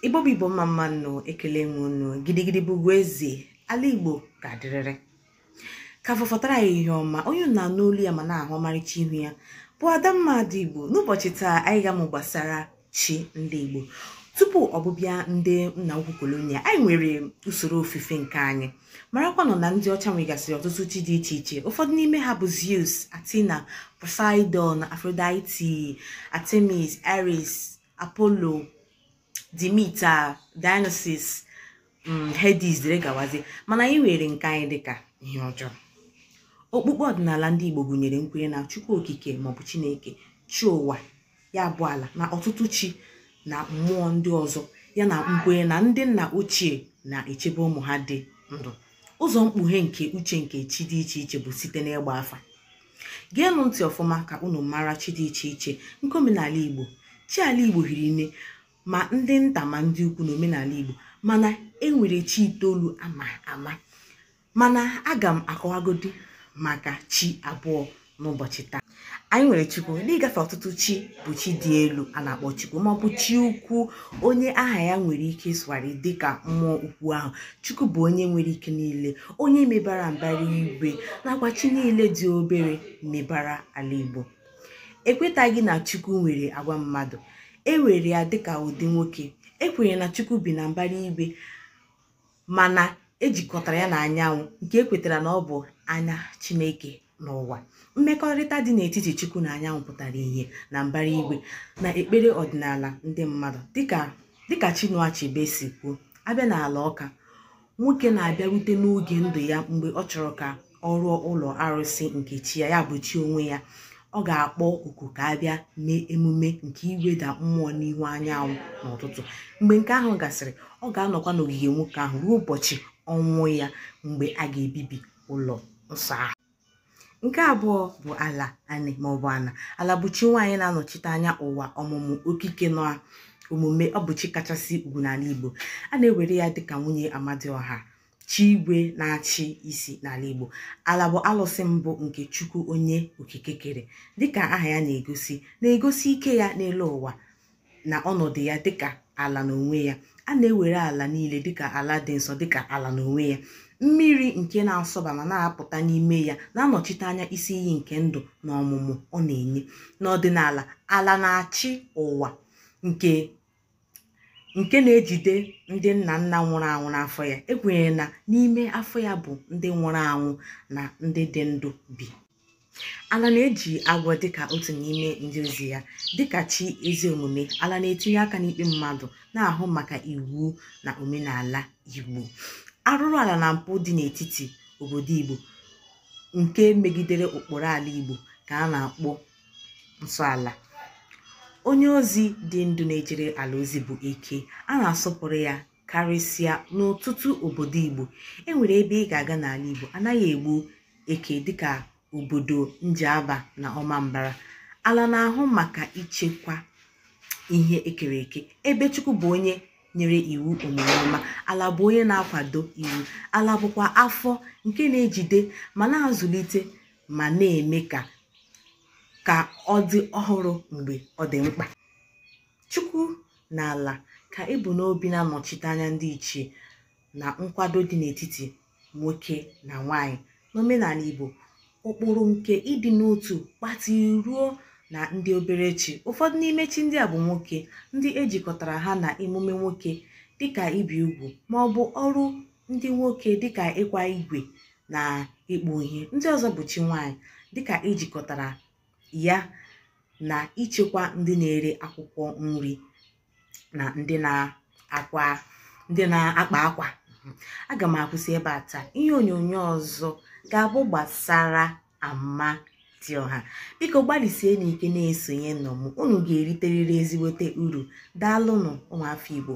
igbo bụ igbo mma mma nụ ekelee m unu gidigidi bụ ugwu eze ala igbo ga-adịrịrị ka fọfọtara ihe ọma onye na-anụ olu ya ma na-ahụ ọmarịcha ihu ya bụ adamma ada igbo n'ụbọchị taa anyị ga-amụ gbasara chi ndị igbo tupu ọbụbịa ndị nna ukwu kolonia anyị nwere usoro ofufe nke anyị marakwanụ na ndị ọcha nwegasịrị ọtụtụ chi dị iche iche ụfọdụ n'ime ha bụ zeus athena poseidon aphrodite artemis ares apollo demeter dionysus mm, hades dere gawazi mana anyị were nke anyị dịka ihe ọjọọ okpukpe ọdịnala ndị igbo gụnyere nkwenye na chukwu okike maọbụ chineke chi ụwa ya bụ ala na ọtụtụ chi na mmụọ ndị ọzọ ya na nkwenye na ndị nna ochie na-echebe ụmụ ha dị ndụ ụzọ mkpughe nke uche nke chi dị iche iche bụ site n'ịgba afa geenụ ntị ọfụma ka unu mara chi dị iche iche nke omenala igbo chi ala igbo hiri nne ma ndị nta ma ndị ukwu na omenala igbo mana e nwere chi itoolu ama ama mana aga m akọwagodi maka chi abụọ n'ụbọchị taa anyị nwere chukwu n'ịgafe ọtụtụ chi bụ chi dị elu a na-akpọ chukwu maọbụ chi ukwu onye aha ya nwere ike ịsụgharị dịka mmụọ ukwu ahụ chukwu bụ onye nwere ike niile onye mebara mbara igwe nakwa chi niile dị obere mebara ala igbo ekwetaghị na chukwu nwere agwa mmadụ e were ya dịka ụdị nwoke ekwenyere na chukwu bi na mbara igwe mana ejikọtara ya na anyanwụ nke ekwetara na ọ bụ anya chineke n'ụwa mmekọrịta dị n'etiti chukwu na anyanwụ pụtara ihe na mbara igwe na ekpere ọdịnala ndị mmadụ dịka Chinua Achebe si kwuo a bịa n'ala ọka nwoke na-abịarute n'oge ndụ ya mgbe ọ chọrọ ka ọ rụọ ụlọ arụsị nke chi ya ya bụ chi onwe ya ọ ga-akpọ oku ka a bịa mee emume nke iweda mmụọ n'ihu anyanwụ n'ụtụtụ mgbe nke ahụ gasịrị ọ ga-anọkwa n'ogige nwoke ahụ ruo ụbọchị ọnwụ ya mgbe a ga-ebibi ụlọ nsọ ahụ nke abụọ bụ ala anị maọbụ ana ala bụ chi nwaanyị na-anọchite anya ụwa ọmụmụ okike na omume ọ bụ chi kachasị ugwu n'ala igbo a na-ewere ya dịka nwunye amadioha chi igwe na-achị isi n'ala igbo ala bụ alụsị mbụ nke chukwu onye okike kere dịka aha ya na-egosi na-egosi ike ya n'elu ụwa na ọnọdụ ya dịka ala n'onwe ya a na-ewere ala niile dịka ala dị nsọ dịka ala n'onwe ya mmiri nke na-asọba ma na-apụta n'ime ya na-anọchite anya isi iyi nke ndụ na ọmụmụ ọ na-enye n'ọdịnala ala na-achị ụwa nke na-ejide ndị nna nna nwụrụ anwụ n'afọ ya ekwenyere na n'ime afọ ya bụ ndị nwụrụ anwụ na ndị dị ndụ bi ala na-eji agwọ dịka otu n'ime ndị ozi ya dịka chi ezi omume ala na-etinye aka n'ikpe mmadụ na-ahụ maka iwu na omenala igbo arụrụ ala na mpụ dị n'etiti obodo igbo nke megidere ụkpụrụ ala igbo ka a na-akpọ nsọ ala onye ozi dị ndụ na-ejere ala ozi bụ eke a na-asọpụrụ ya karịsịa n'ọtụtụ obodo Igbo e nwere ebe ị ga-aga n'ala Igbo anaghị egbu eke dịka obodo Njaba na Ọmambara ala na-ahụ maka ichekwa ihe ekere eke ebe Chukwu bụ onye nyere iwu omume ọma ala bụ onye na-akwado iwu ala bụkwa afọ nke na-ejide ma na-azụlite ma na-eme ka ka ọ dị ọhụrụ mgbe ọ dị mkpa Chukwu na ala ka e bu n'obi na-anọchite anya ndịiche na nkwado dị n'etiti nwoke na nwaanyị n'omenala Igbo ụkpụrụ nke ịdị n'otu gbatịrị ruo na ndị obere chi ụfọdụ n'ime chi ndị a bụ nwoke ndị ejikọtara ha na emume nwoke dịka ibi ugwu ma ọ bụ ọrụ ndị nwoke dịka ịkwa igwe na ịkpụ ihe ndị ọzọ bụ chi nwaanyị dịka ejikọtara ya na ichekwa ndị na-ere akwụkwọ nri na ndị na-akpa akwa aga m akwụsị ebe a taa ihe onyonyo ọzọ ga-abụ gbasara Amadịọha biko gbalịsienụ ike na-esonyenụ m unu ga-eriterịrị ezigbote uru daalụnụ ụmụafọ Igbo